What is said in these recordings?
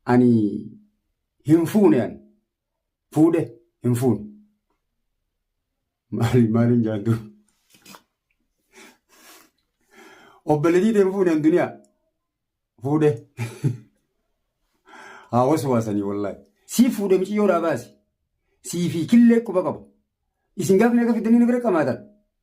Ani hin fuune ani. Fuudhe hin fuune. Maali maaliin jaantu? Obboleetii hin fuune an duniyaa. Fuudhe. Haa waswaasanii wallaahi. Sii fuudhe miciyyoodhaa baasi. Sii fi killee quba qabu. Isin gaafni akka fiddanii na bira qamaatan.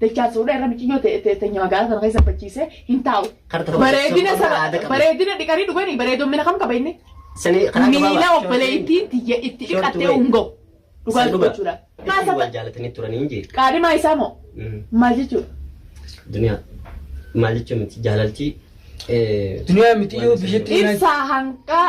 Dachaa suudha irra miciyyoo teenya magaalaa sana keessa bachiisee hin taa'u. Bareedina sana bareedina dhiqanii dhuganii bareedommina kam qaba inni? Miila obboleettiin tiyya itti dhiqattee ungoo. Dhugaa dubbachuudha. Qaadhimaa isaa moo? Maal jechuudha? Duniyaa maal jechuun miti jaalaltii. Duniyaa miti yoo biyyatti. Ibsaa hanqaa.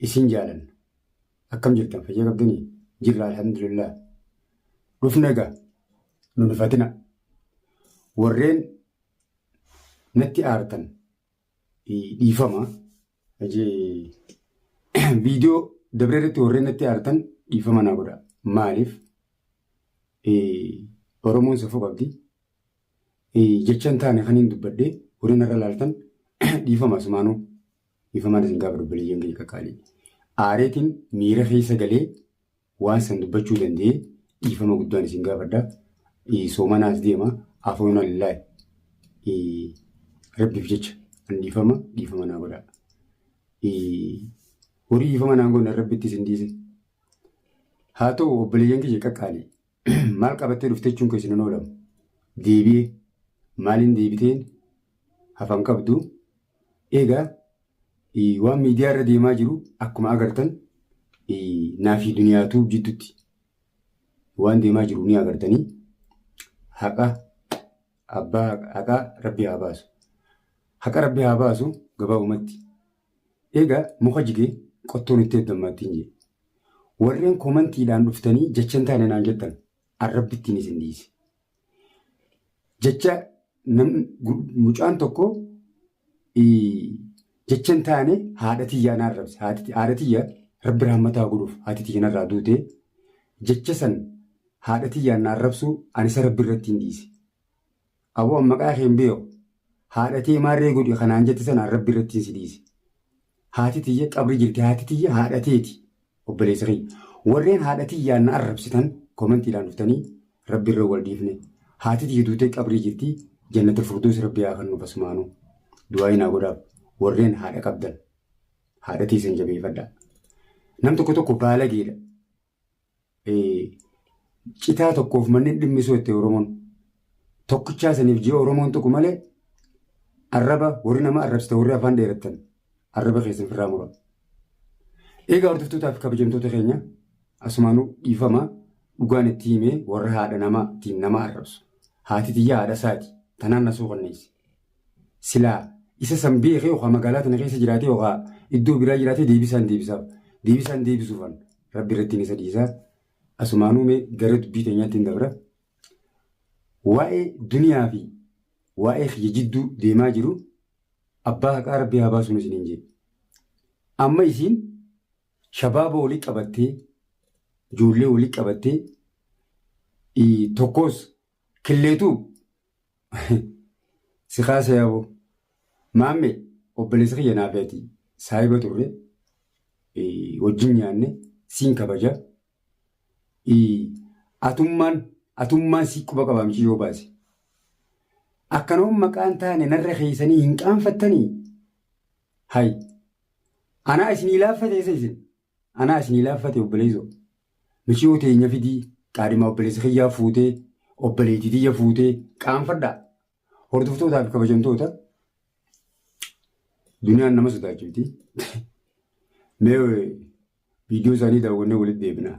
Isin jaalanna. Akkam jirtan fayyaa qabdanii? Jirra alhamdulillah. Dhufna egaa nu rifatina. Warreen natti aartan dhiifama. Viidiyoo dabree irratti warreen natti aartan dhiifama naa godha. Maaliif? Oromoon safuu qabdi. Jechan taane kan hin dubbadde warreen irra laaltan dhiifama asumaanuu. Dhiifamaan isin gaafadha obboleeyyan keenya qaqqaalii. Aareetiin miira keessa galee waan san dubbachuu danda'ee dhiifama guddaan isin gaafadha. Eh, Soomanaas deema afoona lillaahi. Eh, Rabbiif jecha an dhiifama dhiifama naa godhaa. Eh, Horii dhiifama naan godhan rabbitti isin dhiise. Haa ta'u obboleeyyan kiyya qaqqaalii. Maal qabattee dhufte jechuun keessan hin oolamu. Deebi'e maaliin deebiteen hafan qabdu. Egaa eh, waan miidiyaa irra deemaa jiru akkuma agartan eh, naa fi duniyaatu jiddutti waan deemaa jiru ni agartanii haqa abbaa haqaa rabbi haa baasu. Haqa rabbi haa baasu gabaabumatti. Egaa muka jige qottoon itti heddammaattiin jee. Warreen komantiidhaan dhuftanii jecha hin taane naan jettan arrabbi ittiin isin dhiise. Jecha nam, gu- mucaan tokko ii, jecha hin taane haadha tiyyaa na arrabse. Haati- Haadha tiyya rabbi rahmataa godhuuf haati tiyya narraa duute. Jecha san haadha tiyyaan na arrabsuu ani isa rabbi irratti hin dhiise. Aboo an maqaa kee hin beeku. Haadha tee maarree godhi ka naan jette sanaan Rabbi irrattiin si dhiise. Haati tiyya qabri jirti. Haati tiyya haadha teeti. Obboleessa kiyya. Warreen haadha tiyyaan na arrabsitan komantiidhaan dhuftanii Rabbi irra wal dhiifne. Haati tiyya duutee qabrii jirti. Jannatul Furdoos Rabbi haa kennuuf asumaanuu. Du'aa'ii naa godhaaf. Warreen haadha qabdan. Haadha teessan jabeeffadhaa. Nam tokko tokko baalageedha. citaa tokkoof manneen dhimmisuu itti Oromoon. Tokkichaa saniif ji'a Oromoon tuqu malee arraba warri nama arrabsita warri afaan dheerattan arraba keessan firraa mura. Eegaa hordoftootaaf kabajamtoota keenya asumaanuu dhiifama dhugaan itti himee warra haadha namaa ittiin nama arrabsu. Haati tiyyaa haadha isaati tanaan na suukanneessi. silaa isa san beekee okaa magaalaa tana keessa jiraatee okaa iddoo biraa jiraatee deebisaan deebisaaf deebisaan deebisuufan rabbi irrattiin isa dhiisa asumaanuu mee gara dubbii teenyaatti hin dabra waa'ee duniyaa fi waa'ee kiyya jidduu deemaa jiru abbaa haqaa rabbi haa baasuun isiniin jedhe amma isiin shabaaba walitti qabattee ijoollee walitti qabattee ii, tokkos killeetuu Si kaasa yaaboo. Maamme obboleessa kiyya naaf yaati. Saahiba turre. eh, Wajjin nyaanne. Siin kabaja. Eh, Atummaan atummaan si quba qabaamchi yoo baase. Akkanoon maqaan taane narra keessanii hin qaanfattanii? Hay. Anaa isinii laaffateessa isin. Anaa isinii laaffate obboleeysoo miciyoo teenya fidii qaadhimaa obboleessa kiyyaa fuutee obboleeytii tiyya fuutee qaanfadhaa hordoftootaa fi kabajamtoota duniyaan nama sodaachifti mee viidiyoo isaanii daawwannee walitti deebinaa.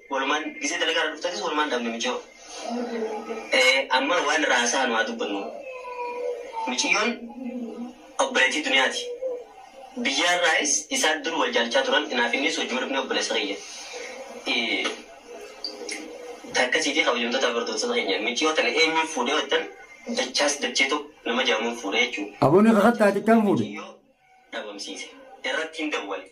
Walumaan gisee dalagaarra dhuftanis walumaan dhabne miciyoo. Amma waan irraa haasa'anu haa dubbannu. Miciyyoon obboleettii duniyaati. Biyyaarraayis isaan dur wal jaalachaa turan anaaf innis hojii wal dhufnee obboleessa kiyya. Takka siifi kabajamtootaa fi hordoftoota keenya miciyoo tana eenyuun fuudhe yoo jettan dachaas dachee tokko nama jedhamuun fuudhe jechuudha. Aboo ni kakattaati kam fuudhe? Miciyoo dhabamsiise. Irratti hin dawwale.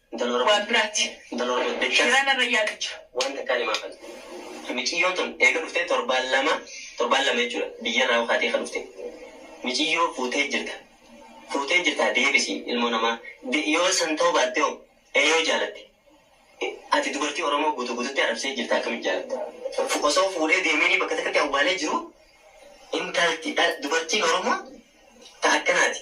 Intala Oromoo. Waan biraatti. Intala Oromoo dachas. Garaa narra yaadu jira. Waan takkaan himaa fale. Miciyyoo tun eega dhuftee torbaan lama torbaan lama jechuudha biyyarraa yoo kaatee ka dhufte. Miciyyoo fuutee jirta. Fuutee jirtaa deebisi ilmoo namaa. De yoo san ta'uu baatte hoo? Ee yoo jaalatte. Ati dubartii Oromoo guutuu guututti arabsee jirta akkamitti jaalatta? Fu osoo fuudhee deemeenii bakka takkatti awwaalee jiruu intalti dha dubartiin Oromoo ta akkanaati.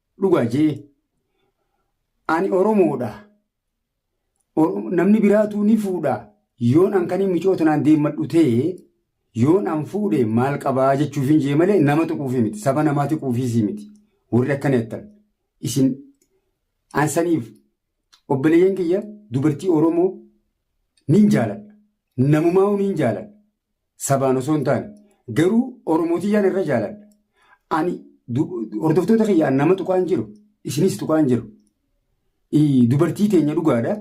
Dhugaa jee ani Oromoodha. Namni biraatuu ni fuudha. Yoon an kanii micoo tanaan deemmadhu ta'e yoon an fuudhe maal qabaa jechuuf hin jee malee nama tuquufii miti. Saba namaa tuquufiisii miti. Warri akkana jettan. Isin an saniif obboleeyyan kiyya dubartii Oromoo nin jaaladha. Namumaa nin jaaladha. sabaan osoo hin taane garuu oromootiyyaan irra jaaladha ani hordoftoota kiyya an nama tuqaan jiru isinis tuqaan jiru dubartii teenya dhugaadha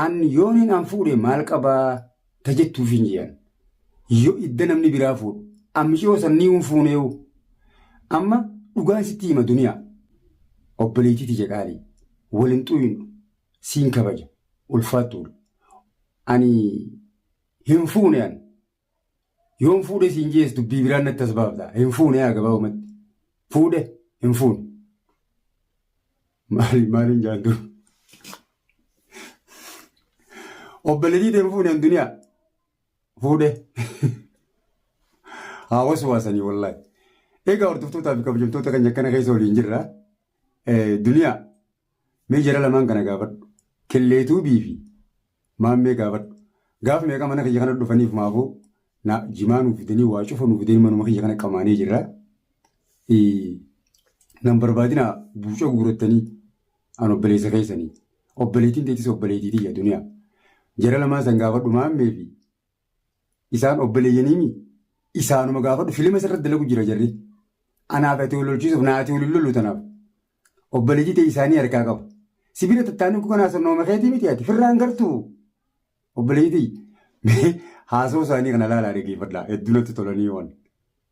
an yooniin an fuudhe maal qabaa ta jettuuf hin jiran yoo idda namni biraa fuudhu ammishoo sannii hin fuuneewu amma dhugaan sitti hima duniyaa obboleettii tiyya qaalii waliin xuyinu siin kabaja ulfaattuudha ani Hin fuune an. Yoon fuudhe siin jees dubbii biraan natti as baafta. Hin fuune yaa gabaabumatti. Fuudhe hin fuune. Maali maaliin jaantu. Obboleetii hin fuune an duniyaa. Fuudhe. Haa waswaasanii wallaahi. Egaa hordoftootaa fi kabajamtoota kan akkana keessa waliin jirra. Duniyaa. Mee jara lamaan kana gaafadhu. Kelleetuubii fi Maammee gaafadhu. Gaaf meeqa mana kiyya kana dhufaniif maafuu na jimaa nuuf fidanii waa cufa nuuf fidanii manuma kiyya kana qamaanee jirra. Nan barbaadina buuca guurattanii an obboleessa keessanii. Obboleettiin teetis obboleettii tiyya duniyaa. Jara lamaan san gaafadhu maammee fi Isaan obboleeyyaniimi isaanuma gaafadhu filima isarratti dalagu jira jarri. Anaaf ati wal lolchiisuuf naati wal hin lollu tanaaf. Obboleeyyii ta'e isaanii harkaa qabu. Sibira tattaanii kun kanaa sonnooma keetii miti ati firraan gartuu. Obboleeyyii ta'e haasoo isaanii kana laalaa dhaggeeffadhaa hedduu natti tolanii waan.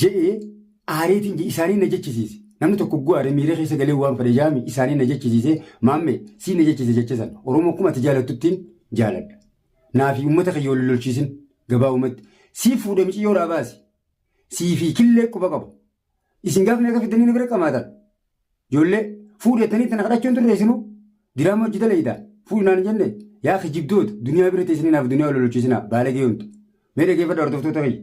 je'ee aareetiin je isaanii na jechisiise. Namni tokko hogguu aare miira keessa galee waan fedhe jaami isaanii na jechisiise maamme sii na jechise jecha san Oromoo akkuma ati jaalattuttiin jaaladha. Naafi uummata kiyya wal lolchiisin gabaabumatti sii fuudhe miciyyoo irraa baasi. Sii fi killee quba qaba. Isin gaafni akka fiddanii na bira qamaatan. Ijoollee fuudhettanii tana kadhachuun turre isinuu diraama hojii dalaydaan fuudhi naan jenne yaa kijibdoota duniyaa bira teessanii naaf duniyaa wal lolchiisinaa baalagee hundu. Mee dhageeffadha hordoftoota kiyya.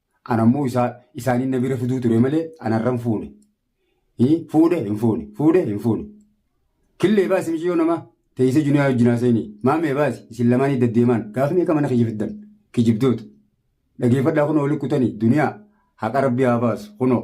Ana immoo isaa isaaniin na bira fiduu ture malee anarran fuune. Hii, Fuudhe hin fuune. Fuudhe hin fuune. Killee baasi miciyoo namaa. Teessee juniyaa wajjin haaseenii. Maamee baasi isin lamaanii daddeemaan gaaf meeqa mana kiyya fiddan. Kijibdoota. Dhageeffadhaa kunoo wali kutanii duniyaa haqa rabbii haa baasu kunoo.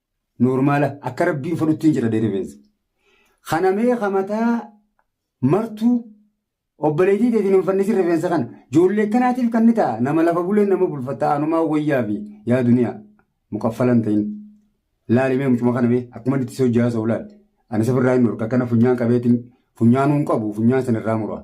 Noormaala akka rabbiin fadhuttiin jira dee rifeensa. Kana mee ka mataa martuu obboleettii teetiin hin fannisin rifeensa kana. Joollee kanaatiif kan ni ta'a nama lafa buleen nama bulfatta anumaa wayyaa fi yaa duniyaa muqaffalan ta'in. Laali mee mucuma kana mee akkuma inni itti si hojjaa sa'u laali. Ani safirraa hin dhorka akkana funyaan qabeetiin funyaanuun qabu funyaan sanirraa muraa.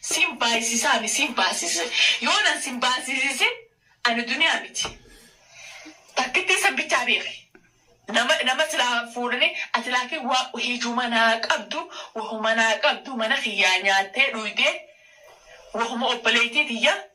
Sin baayisisaa mi sin baasise yoonan sin baasisisin ani duniyaa miti takkittii san bichaa beeki nama nama silaa fuudhani ati laakiin waa hijuma naa qabdu wahuma naa qabdu mana kiyyaa nyaattee dhuydee wahuma obboleeytii tiyya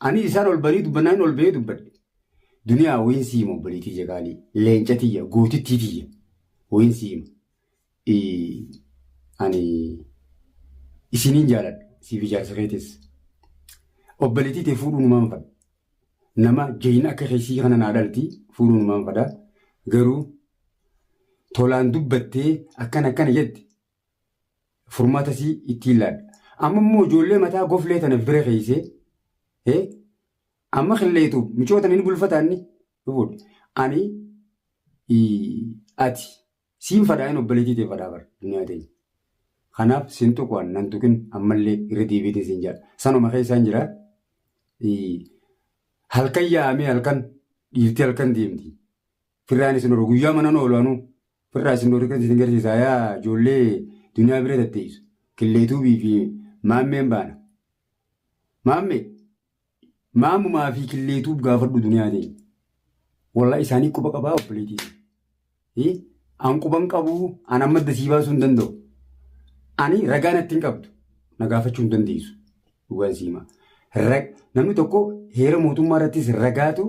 Ani isaan ol banii dubbannaan ol ba'ee dubbadhe. Duniyaa wayin siima obboleetii tiyya qaalii. Leenca tiyya gootittii tiyya. Wayin siima. Ani isiniin jaaladha. Siif ijaarsa keetis. Obboleetii tee fuudhuu numaan fadha. Nama jayina akka keessii kana naa dhalti fuudhuu numaan fadha. Garuu tolaan dubbattee akkana akkana jette furmaata isii ittiin laadha. Amma immoo ijoollee mataa goflee tana bira keeysee hee amma qilleetu micoo tana ni bulfata inni dhufuudha. Ani ii, ati siin fadhaa hin obboleetii ta'e fadhaa bara duniyaa ta'e. Kanaaf sin tuqu an nan tuqin ammallee irra deebiitiin sin jedha. Sanuma keessaan jira. Ii, Halkan yaa'amee halkan dhiirti halkan deemti. Firraan isin oolu guyyaa manan oolu anuu. Firraa isin oolu kan isin garsiisaa yaa ijoollee duniyaa bira tatteessu. Killeetuubii fi maammeen baana. Maammee maamumaa fi killeetuub gaafadhu duniyaa teenya. Walaa isaanii quba qabaa obboleetii. Hii? An quban qabuu an amma dasii baasuu hin danda'u. Ani ragaa natti hin qabdu. Na gaafachuu hin dandeessu. Dhugaan siimaa. Namni tokko heera mootummaa irrattis ragaatu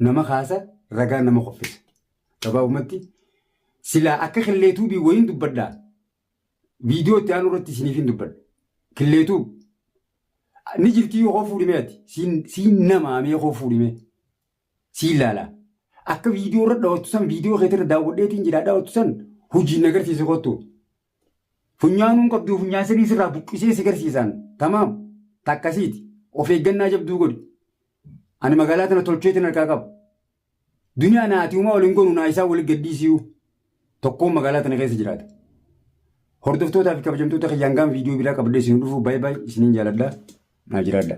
nama kaasa ragaa nama qophisa gabaabumatti silaa akka killeetuu bii wayiin dubbadhaa viidiyoo itti aanu irratti isiniif hin dubbadha killeetuu ni jirtii yoo koo fuudhimee ati siin siin namaamee koo fuudhimee siin laalaa akka viidiyoo irra dhawattu san viidiyoo keetirra daawwadheetiin jira dhawattu san hojiin agarsiise kottu Funyaan hin qabdu funyaan sanii sirraa buqqisee si garsiisaan tamaam takkasiiti of eeggannaa jabduu godhi ani magaalaa tana tolcheetiin harkaa qaba duniyaa naati uumaa waliin gonu naa isaa waliin gadhiisiyuu tokkoon magaalaa tana keessa jiraata hordoftootaa fi kabajamtoota kiyyaan gaan viidiyoo biraa qabadhee isin dhufuu baay'ee baay'ee isiniin jaaladha naa jiraadha.